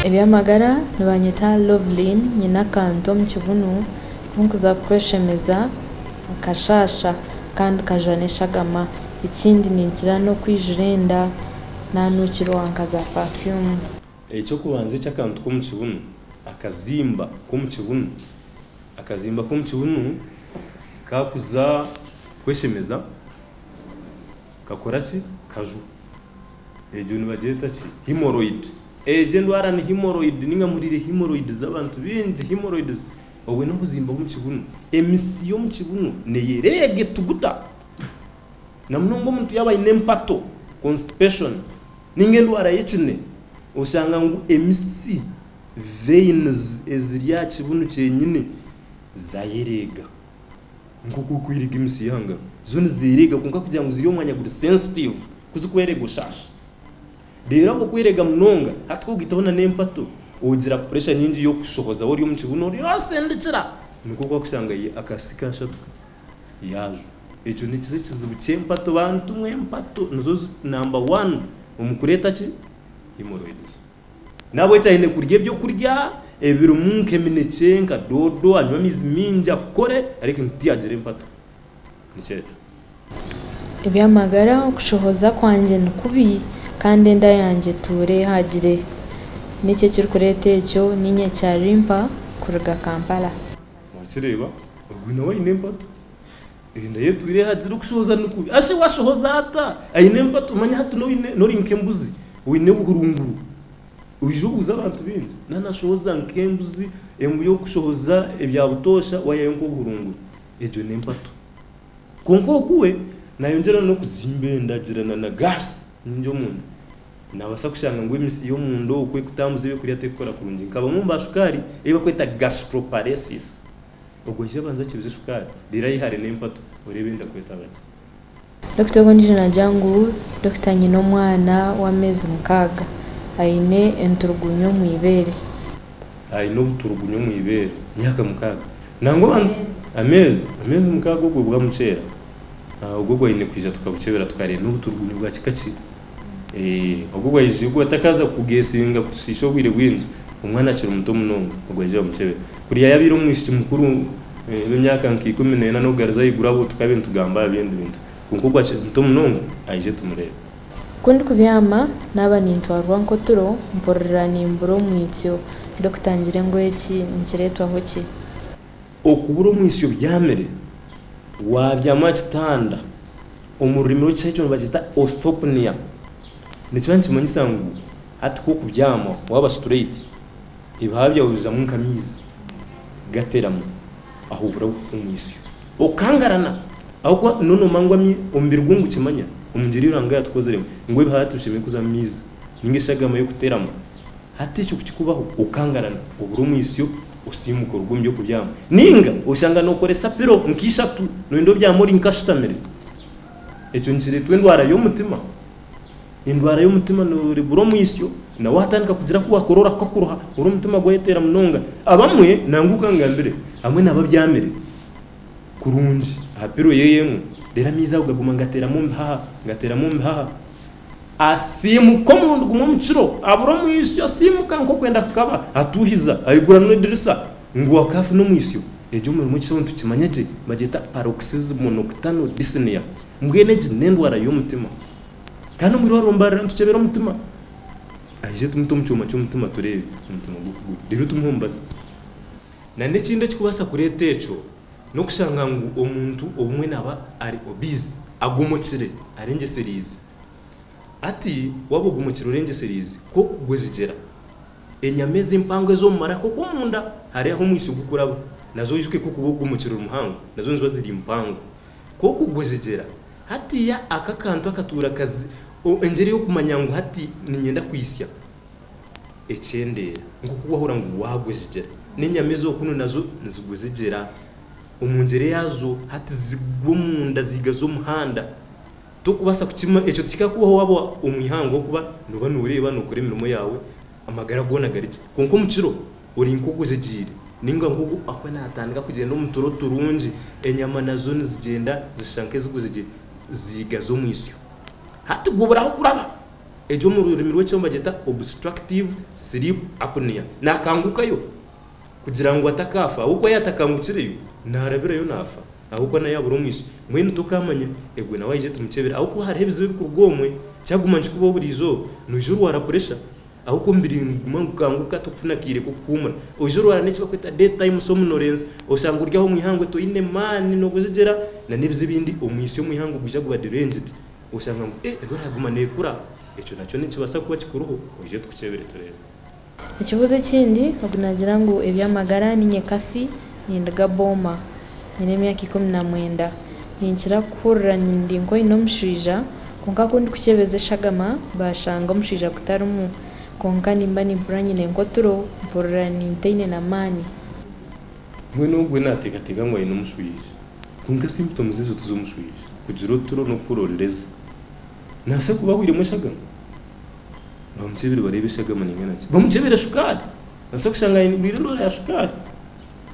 Eby'amagara nibanyeta Loveline nyine akantu omu kibunu aku nkuza kukweshemeza nikashaasha kandi kajwa n'eshagama. Ekindi ninkira n'okwijura enda nanuukirwa nka za pafyumu. Eky'okubanza eky'akantu k'omu kibunu, akazimba k'omu kibunu. Akazimba k'omu kibunu kaakuza kweshemeza, kakora ki? Kajwa. Egyo nibagyeta ki? Hemorrhoid. Egyo endwara ni hemorrhoid, nainga muhuriire hemorrhoid z'abantu baingi, hemorrhoids. Obwo n'obuzimba bw'omu kibunu. Emitsi y'omu kibunu neyo ereega etuguta, namunonga omuntu yaaba aine empato, constipation. Ninga endwara y'ekine oshanga ngu emitsi, veins, eziri aha kibunu kyenyine zayereega nk'oku kwereega emitsi y'aha ngaro. Zo nizereega kwonka kugira ngu ziri omu mwanya guri sensitive ku zikwereega oshaasha. Reero ahabwo kwereega munonga hati ku ogaitaho na n'empato ogira pressure nyingi y'okushohoza ori omu kibunu ori otsindikira nikwo ku orikushanga akaatsi kaashatuka. yaajwa. Ekyo nikiza ekizibu ky'empato bantu mwe, empato nizo zi number one omu kureeta ki hemorrhoids. Nahabw'ekyo aine kurya eby'okurya ebirimu nk'eminekye, nka doodo, anywe amaizi maingi, akore areke ngu tiyagira empato. Nikyo ekyo. Eby'amagara, okushohoza kwangye ni kubi kandi enda yangye etuura ehagire. Niki ekirikureeta ekyo? Niinywa ekya Limpa kuruga Kampala. Wakireeba, ogwo nawe aine empatu. Enda ye etwire ehagire okushohoza ni kubi. Ashi washohoza ata? Aine empatu. Manya hati n'ori nk'embuzi, oine obuhurunguru. Oije obuuze abantu baingi, na nashohoza nk'embuzi, embuzi y'okushohoza ebya butoosha wayayo nk'obuhurunguru. Egyo n'empatu. Kwonka oku we nayongyera n'okuzimba enda agira na gaasi nyingi omunda. Naabaasa kushanga ngu emitsi y'omunda okwo ekutambuza eby'okurya terikukora kurungi. Nka bamwe omu baashukaari ei barikweta gastroparesis. Ogwo aija abanze akibuze shukaari, reero ayehare n'empatu oreebe enda kwetaba gye. Dokita ogwo ondiijo naagira ngu, Dokita nyine omwana w'ameezi mukaaga aine enturugunyu omu ibeere. Aine obuturugunyu omu ibeere. Myaka mukaaga? Nangwa abantu. Ameezi. Ameezi mukaaga ogwo bwamuceera, ogwo aine kwija tukabukyebera tukareeba n'obuturugunyu bwa kika ki. Ogu bwaijuka takaza kugesinga kutushisha obwire bwingi omwana akiri muto munonga ogu aija bamukyebere kuriya yabire omwishiki mukuru emyaka nka ikumi nena nokugaruza ahaiguru abu tukabe nitugamba ahabindi bintu kwonka ogu akiri muto munonga aije tumurebe. Kundikubyama naba nintwarwa nkoturo mpurira nimbura omwitsyo ndikutangira engoye ki nikiretwaho ki? Okubura omwitsyo obyamire, waabyama aha kitanda, omu rurimi rw'Ekishaki nibakyeta orthopnea, nikiba nikimanyisa ngu hati ku orikubyama waaba straight, ebihaha byawe bizamu nk'amaizi gateeramu ahu obura omwitsyo, okangarana ahabw'okuba nooba noomanya ngu omubiri gwo nigukimanya omu ngyeri ei Ruhanga yaatukoziremu ngu ebihaha hati bishemereire kuzamu amaizi nainga shi agahamayo kuteeramu, hati ekyo kukikubaho okangarana obure omwitsyo. Osiimuka oruga omu by'okubyama nainga oshanga nookoresa pilo nka ishatu, nooyenda obyame ori nka ashutamire. Ekyo nikireetwa endwara y'omutima. Endwara y'omutima nooreebura omwisyo na waatandika kugira aku waakora orahuka kuruha oru omutima gwayeteera munonga. Abamwe nangwa nkangambire abamwe naaba abyamire kurungi aha pilo ye emwe reero amaizi ago gaguma nigateeramu omu bihaha, nigateeramu omu bihaha. Asiimuka omurundi gumwe omu kiro, abura omwisyo, asiimuka nk'okwenda kukaba, atuuhiza, aigura nwa edirisa ngu akaafuna omwisyo. Egi omu mirimo ekishaho nitukimanya gye bagyeta paroxysm nocturnal dyspnea. Mbwenu egi n'endwara y'omutima. Kandi omu irwariro mbarira nitukyebera omutima. Aije tumute omu kyoma ky'omutima tureebe omutima ogu oku guri reero tumuhe omubazi. Na n'ekindi ekikubaasa kureeta ekyo. n'okushanga ngu omuntu obumwe naba ari obese, agomokire, arengyesereize. Ati, Waaba ogomokire orengyesereize, ku orikugwezigyera, enyama ezi empango ez'omu maraka okwo omunda, hariya ahu omwitsyo gurikuraba, nazo oijuke ku orikuba ogomokire ori muhango, nazo niziba ziri mpango. Ku orikugwezigyera, hatiiya ako akantu akatuura kazi, engyeri ey'okumanya ngu hati niinyenda kwitsya. ekyendeera nk'oku waahurira ngu waagwa ezigyera. N'enyama ez'okunu nazo nizigwa ezigyera. Omu ngyere yaazo hati zigwa omunda ziigaze omuhanda. Torikubaasa kukimanya, ekyo tikikakubaho waaba omu ihanga ahabw'okuba nooba nooreeba, nookora emirimo yaawe, amagara goona gari gye. Kwonka omu kiro ori nk'ogwo ozegyeire nainga nk'ogwo akaba naatandika kugyenda omu turo turungi. Enyama nazo nizigyenda zishusha nk'ezigwa ezegyeire, ziigaze omu isyo. Hati gubura ahu kuraba. Egi omu rurimi rw'ekyoma bagyeta obstructive sleep apnea. Naakangukayo kugira ngu atakaafa ahabw'okuba yaatakangukireyo naarabirayo naafa ahabw'okuba nawe yaabura omwishiki. Mbwenu tokaamanya egwe nawe aije tumukyebera ahabw'okuba hariho ebizibu ebirikuruga omwe. Kyaguma nikikubaho buriijo noija orwara puresha ahabw'okuba omubiri niguguma nigukanguka tokufuna akaire k'okuhuumura. Oija orwara n'eki barikweta day time somnolence, oshange ori aho omu ihangwe toine maani n'obujegyera nana ebizibu ebindi. Omwitsyo omu ihangwe gwija guba deranged. oshanga ngu e ego eraguma nekura ekyo nakyo nikibasa kuba kikuriho oije tukukyebere turebe. Ekibuzo ekindi ogu nagira ngu ebyamagara ninye Cathy ninduga Boma nyine emyaka ikumi na mwenda ninkira kuhurira ndi nka oyine omushwija kwonka kundikukyebeza eshagama bashanga omushwija gutarimu kwonka nimba nimpurira nyine nkoturo mpurira nintayine na mani. Mbwenu ogwo naateekateeka ngu aine omushwija, kwonka si mbuto muzizi otiza omushwija, kugira oturo n'okukurondeza. Naase kuba ahwiremu eshagama? Baamukyebire bareeba eshagama nainga naki. Bamukyebire shukaari! Naase kushanga aigwire endwara ya shukaari.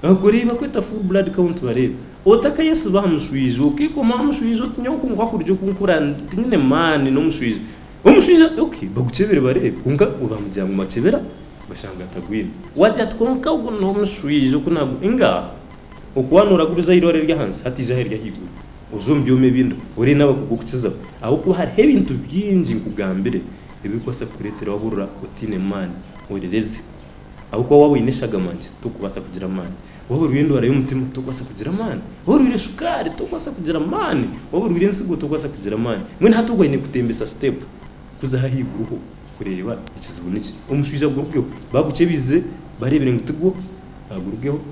Baakora ei bakweta full blood count bareebe. Otakayesiba aha mushwija, okeekomaho aha mushwija oti nyowe ku nkwakurya oku nkura tinyine maani n'omushwija. Omushaija ok bagukyebire bareebe kwonka bamugira ngu makyebera bashanga tagwine wagira ati kwonka ogu nomushwiija oku nagu ingaa oku wa noraguriza aheirwaro eryahansi hatiija aha eryahaiguru oze omu byoma ebindi orebe naba kugukukizaho ahabwokuba hariho ebintu byingi nkugambire ebirikubaasa kukuretera waba orora otiine maani orereze. Ahabw'okuba waaba oine eshagama nkye, torikubaasa kugira amaani. Waaba orwaire endwara y'omutima, torikubaasa kugira amaani. Waaba orwaire shukaari, torikubaasa kugira amaani. Waaba orwaire entsigo, torikubaasa kugira amaani. Mbwenu hati ogwo aine kutembesa siteepu kuza aha haiguru ho kureeba ekizibu niki. Omushaija agurukeho. Baagukyebize, baareebire ngu tigwo, agurukeho.